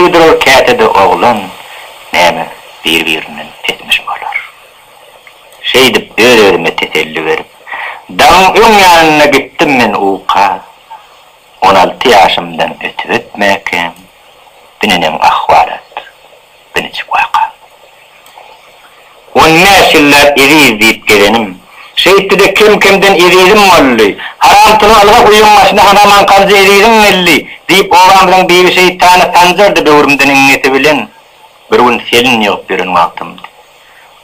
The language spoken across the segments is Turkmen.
Şeýledir ol käte-de oglan, näme, bir-birinden etmiş bolar. Şeýdip öz-özüme teselli berip, dagyň öň ýanyna gitdim men uka. On alty ýaşymdan ötüp-ötmäkem, bu neneň ahwalat? Birnäçe waka. On bäş ýylläp Eziz diýip gezenim. Şeýtdi-de kem-kemden Ezizim boldy. Haramtyly ylga guýyň başyna hanaman galjy Eziziň geldi, diýip obamyzyň Bibi şeýtany Sanjardy böwrümden iňňesi bilen. Bir gün selin ýygyp ýören wagtymdy.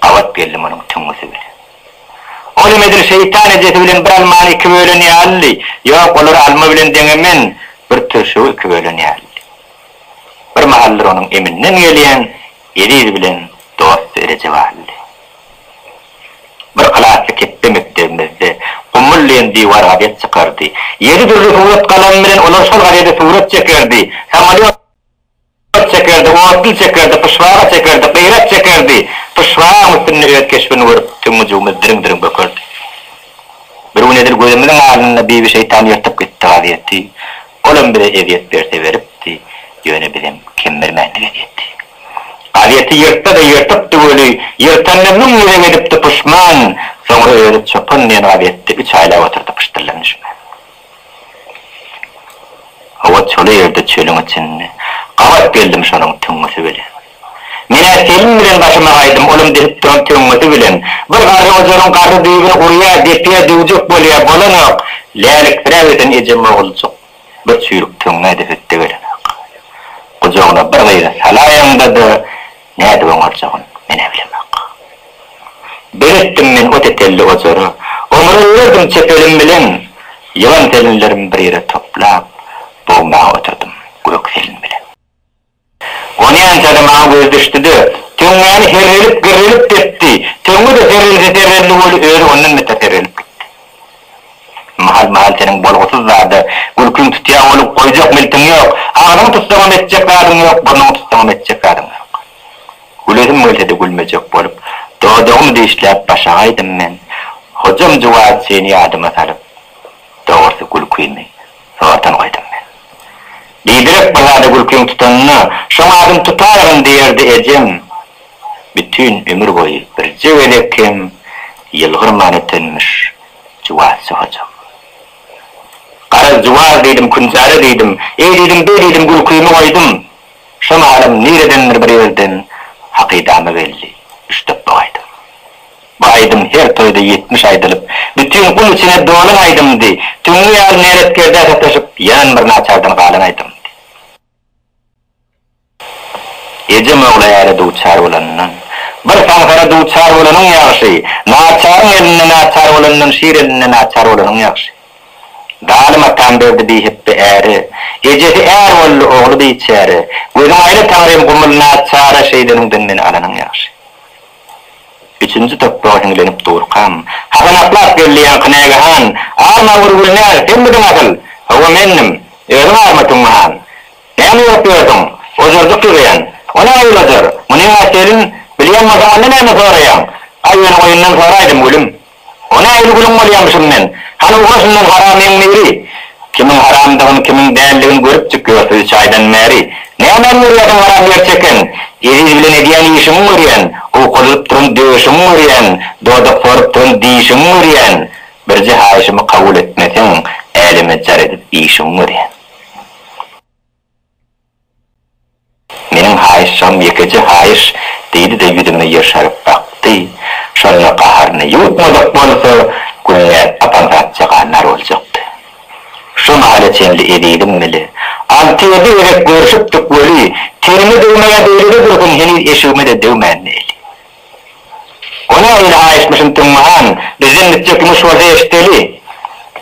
Gabat geldim onuň tüňňüsi bilen. Ol hem edil şeýtan ejesi bilen bir almany iki bölen ýalydy. Ýok, olary alma bilen deňemen, bir türşügi iki bölen ýalydy. Bir mahallar onuň eminden gelýän Eziz bilen dost dereje bardy. Bir klasy ketde mekdebimizde Gumul diýen diwar gazet çykardy. Ýedi dürli surat galamy bilen olar şol gazede surat çekerdi, samolýot çekerdi, otly çekerdi, pyşbaga çekerdi, gyrak çekerdi. Pyşbagaň üstünde öz keşbini görüp tüňňüjigimiz diriň-diriň bökerdi. Bir gün edil gözümiziň alnynda Bibi şeýtan ýyrtyp gitdi gazeti. Olam bize ezýet berse beripdi, ýöne bizem kemmirmändik ezýeti. Gazeti ýyrtsa-da ýyrtypdy weli, ýyrtanyna müň gezek edipdi puşman, soňra özi çopan diýen gazetde üç aýlap oturdy pyşdyllan düşmän. Howa çoly ýerde çölüň içinde, gabat geldim şonuň tüňňüsi bilen. Men-ä Selim bilen başyma gaýdym, olam depip duran töňňesi bilen. Bir garry ojaryň garry düýbüni urýa, depýä, döwjek bolýa, bolanok. Läliksiräp ösen ejem oguljyk bir çüýrük töňňä edip ötde gelenok. Gujagyna bir gyzy salaýaňda-da, nädip oňarjagyn, men-ä bilemok. Beletdim men o tetelli ojary. Oňaraberdim çepelim bilen. Ýylan-selinlerimi bir ýere toplap, bogmaga oturdym Gök Selin bilen. Onýança-da maňa göz düşdi-de, töňňäni serrelip-girrelip depdi, töňňe-de serrelse-serrelse boldy, özi ondan beter serrelip gitdi. Mahal-mahal seniň bolgusyz zada gülkiň tutýar bolup, goýjak miltiň ýok, agzyňy tutsaňam etjek zadyň ýok, burnuňy tutsaňam etjek zadyň ýok. Gülesim gelse-de gülmejek bolup, dodagymy dişläp başagaýdym men, hojam juwaz seni ýadyma salyp, dogrusy gülkimi. Soradan goýdum men. Diýdirek bir zada gülkiň tutanyna, şoň adyn tutaýgyn diýerdi ejem. Bütin ömür boýy birje gezek hem ýylgyrman ötenmiş Juwazjy hojam. Garaz, Juwaz diýdim, Künjara diýdim, eý diýdim, beý diýdim, gülkimi goýdum. Şo mahalym niredendir bir ýerden hakydama geldi, üşdep bogaýdym. Bu aýdym her toýda ýetmiş aýdylyp, bütin gul içine dolan aýdymdy. Tüňňi ýaly näletkerde sataşyp, ýan bir naçardan galan aýdymdy. Ejem ogly äre duçar bolandan, bir saňsara duçar bolanyň ýagşy, naçaryň elinde naçar bolandan şir elinde naçar bolanyň ýagşy. Zalym atam berdi bihepbe äre, ejesi är boldy, ogly biçäre. Gözüň aýla Taňrym gumul naçara şeýdeniňden meni alanyň ýagşy. Üçünji doktor hiňlenip durkam, hazanaklap geldiýaňky nägehan, Arma Urgulnäg, senmidiň asyl? Hawa, mendim. Özüň arma Tüňňihan. Näme görüp ýördüň? Ojarjyk ýygýan. O nähili ojar? Muny öňe çelin. Bilýän bolsaň, onda näme soraýaň? Aý, ýöne oýundan soraýdym, gülüm. O nähili gülüň bolýamyşym men? Hany ugra şundan haramyň biri! Kimiň haramdygyny, kimiň däldigini görüpdik ýör sizi çaýdan bäri. Nämäni görýärsiň haram ýer çeken? Eziz bilen edýän işiňi görýän. Owkalalyp duran döşüňi görýän. Dodak sorup duran dişiňi görýän. Birje haýyşymy kabul etmeseň, äleme jar edip işiňi görýän. Meniň haýyşjam ýekeje haýyş, diýdi-de ýüzüme ýyrşaryp bakdy. Şonda gaharyny ýuwutmajak bolsa, Gülnäz apam zatja gannar boljakdy. Şu mahala çenli ezizim weli. Alty-ýedi gezek görşüpdik weli, tenime degmäge beýlede dursun, heniz eşigime-de degmänini eli. Onam öýle aýytmyşyn Tüňňi han, bizden gitjek ýumuş bolsa eşiteli.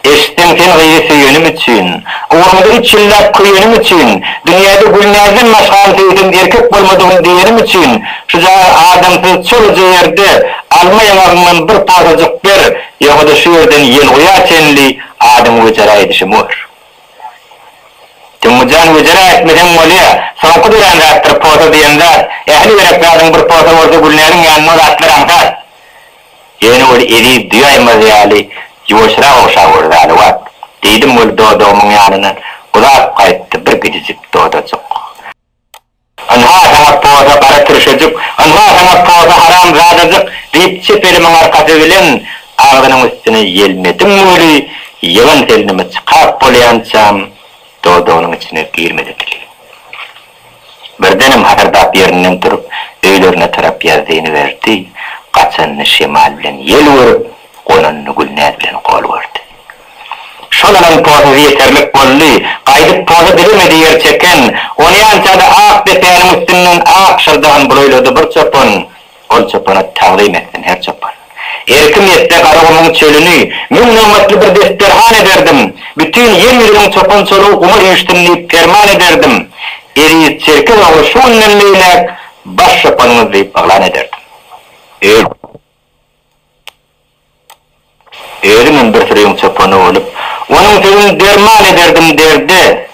Eşitseň sen gyzy söýenim üçin, ugrunda üç ýyllap köýenim üçin, dünýäde Gülnäzden başgany söýsem erkek bolmadygym diýenim üçin şujagaz adamsyz çoluja ýerde alma ýabagyňdan bir posajyk ber, ýogada şu ýerden ýelguýa çenli adyňy göçeräýdişim bor. Tumujan güjürä etmeseň bolýa, soňky dörän zatdyr posa diýen zat, ähli gerek zadyň bir posa bolsa Gülnäziň ýanynda zatlar aňsat. Ýöne ol eziz düýaýmaz ýaly ýuwaşrak ogşap ur zady wagt, diýdim ol dodagymyň ýanyndan uzap gaýtdy bir gijijik dodajyk. Ynha, saňa poza, gara tirşejik! Ynha, saňa poza, haramzadajyk! diýip, çep elimiň arkasy bilen agzynyň üstüne ýelmedim weli, ýylan selneme çykap bolýançam, dodagynyň içine girmedi dili. Birdenem hasyrdap ýerinden turup, öýlerine tarap ýazzyny berdi. Gaçanyny şemal bilen ýel görüp. Golalyny Gülnäz bilen gol gördi. Şolaryň pozy ýeterlik boldy. Gaýdyp poza bilemedi ýer çeken. Onýança-da ak depäniň üstünden ak şyrdagyny bulaýlady bir çopan. Ol çopana tagzym etsin her çopan. Erkim etse Garagumuň çölüni, Müň nobatly bir desterhan ederdim. Bütin ýer ýüzüniň çopan-çolugy guma üýşsün diýip perman ederdim. Eziz çerkez ogly şu günden beýläk baş çopanyňyz diýip yglan ederdim. Öl! Özümem bir süreň çopany bolup, onuň sözüni derman ederdim derde.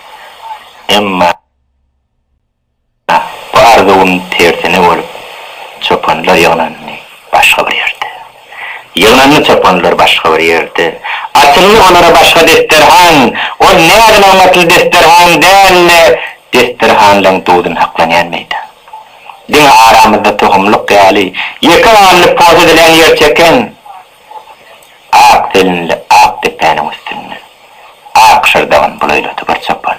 Emma bu arzuwym tersine bolup, çopanlar ýygnandy başga bir ýerde. Ýygnandy çopanlar başga bir ýerde. Açyldy olara başga desterhan. Ol näzin-aňlatly desterhan däldi, desterhanlaň duzuny saklanýan meýdan. Diňe aramyzda tohumlyk ýaly, ýeke ganly post edilen ýer çeken ak selinli ak depäniň üstünde ak şyrdagyn bulaýlady bir çopan.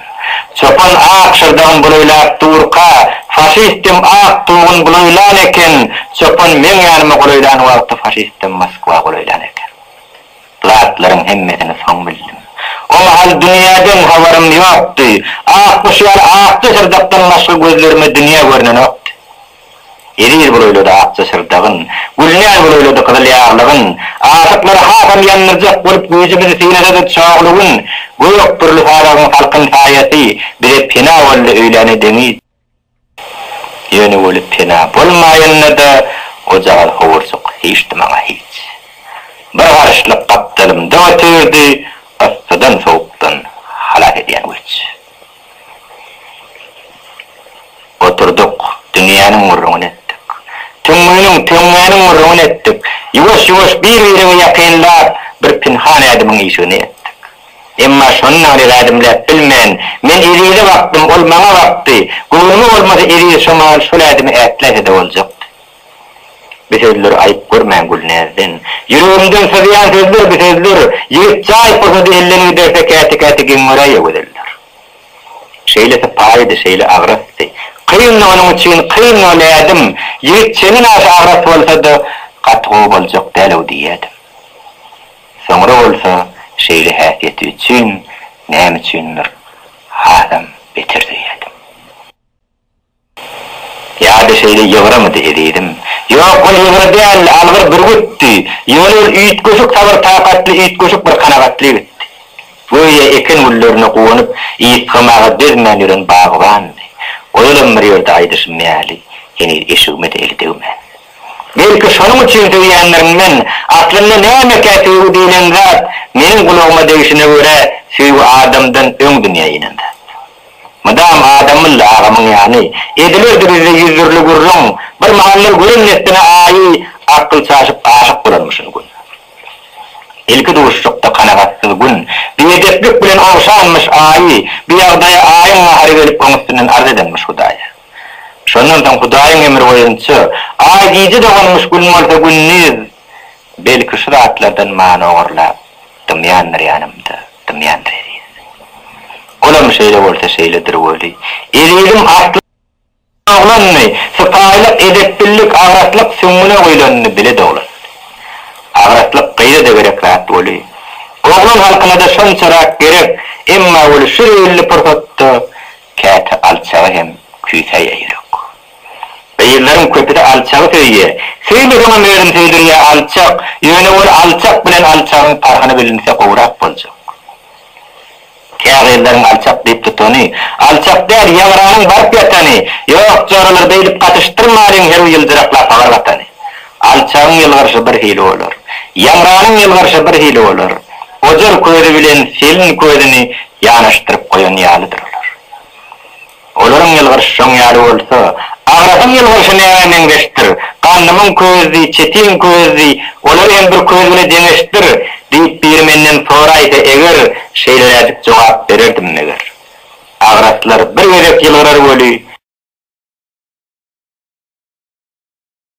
Çopan ak şyrdagyn bulaýlap durka, faşistem ak tugyn bulaýlan eken. Çopan meň ýanyma golaýlan wagty faşistem Moskwa golaýlan eken. zatlaryň hemmesini soň bildim. O mahal dünýäden habarym ýokdy. Ak guş ýaly akja syrdakdan başga gözlerime dünýe görnenokdy. Eziz bolaýlady akja syrdagyn, gülnän bolaýlady gyzyl ýaglygyn. Aşyklary hasam ýandyrjak bolup güýjümizi synasa-da Çogly gün, gök pürli sazagyn salkyn saýasy bize pena boldy öýläne deňiz. Ýöne welin pena bolmaýanda-da ojagaz howurjyk hiç-de maňa hiç. Bir garyşlyk gapdalymda otyrdy, yssydan-sowukdan halas edýän güýç. Oturdyk, dünýäniň gürrüňini etdik. Tüňňüniň, töňňäniň gürrüňini etdik. Ýuwaş-ýuwaş bir-birimi ýakynlap, bir pynhan ädimiň işigini etdik. Emma şony nirä ädimläp bilmen. Men Ezize bakdym, ol maňa bakdy. Göwnüme bolmasa Eziz şomal şol ädimi ätläse-de boljakdy. Bi sözleri aýyp görmäň Gülnäzden. Ýüregimden syzýan sözler bi sözler. Ýigit jaý pursady elden giderse käte-käte geň göräýe gözeller. Şeýle sypaýydy, şeýle agrasdy. Kyndy onuň üçin, kyndy ol ädim. Ýigit çemen aşa agras bolsa-da, gaty gowy boljak däl-ow diýýädim. Soňra bolsa şeýle häsiýeti üçin näme üçindir hasam beter söýýärdim. Ýa-da şeýle ýygrymydy, ezizim? Ýok, ol ýygry däldi, algyr bürgütdi. Ýöne ol üýtgeşik sabyr-takatly, üýtgeşik bir kanagatlygytdy. Göýä eken güllerine guwanyp, ysgamaga dözmän ýören bagbandy. Ozalam bir ýerde aýdyşym ýaly, heniz eşigime-de eli degmän. Belki şonuň üçin söýýänlerimden aslynda nämekä söýgi diýlen zat meniň gulagyma degişine görä söýgi adamdan öň dünýä inen zat. Mydam Adamylly agamyň ýany edilerdi bizde ýüz dürli gürrüň bir mahallar gören neslini aýy akyl çaşyp aşyk bolarmyşyn gün. Ilki duşuşykda kanagatsyz gün biedeplik bilen ogşanmyş aýy biýagdaýa aýyň gahary gelip oň üstünden arz edenmiş hudaýa. Şondan soň Hudaýyň emri boýunça, Aý gije doganmyş Gün bolsa gündiz, belki şu zatlardan many ogurlap, dymýandyr ýanymda, dymýandyr Eziz. Olam şeýle bolsa şeýledir weli, Eziziň asly oglandy, sypaýylyk, edepbillik, agratlyk süňňüne guýlandy, bile doglan. Agratlyk gyza-da gerek zat weli, oglan halkyna-da şonçarak gerek, emma weli şu zeýilli pursatda Käte alçagy hem küýsäýýä ýürek. Gyzlaryň köpüsi alçagy söýýä. Söýmeseňem özüni söýdürýä alçak. Ýöne ol alçak bilen alçagyň parhyny bilinse gowrak boljak. Kä gyzlaryň alçak diýip tutany, alçak däl ýaňranyň baryp ýatany, ýok joralar beýdip gatyşdyrmalyň herw ýyljyraklap habar gatany. Alçagyň ýylgyryşy bir hili bolar. Ýaňranyň ýylgyryşy bir hili bolar. Ojar közi bilen selin közüni ýanaşdyryp goýan ýalydyr olar. Olaryň ýylgyryşy şoň ýaly bolsa, agrasyň ýylgyryşy nämä meňzeşdir? Gandymyň közdi, çetiň közdi, olary hem bir köz bile deňeşdir, diýip biri menden soraýsa eger, şeýleräjik jogap bererdim meger. Agraslar bir gezek ýylgyrar weli.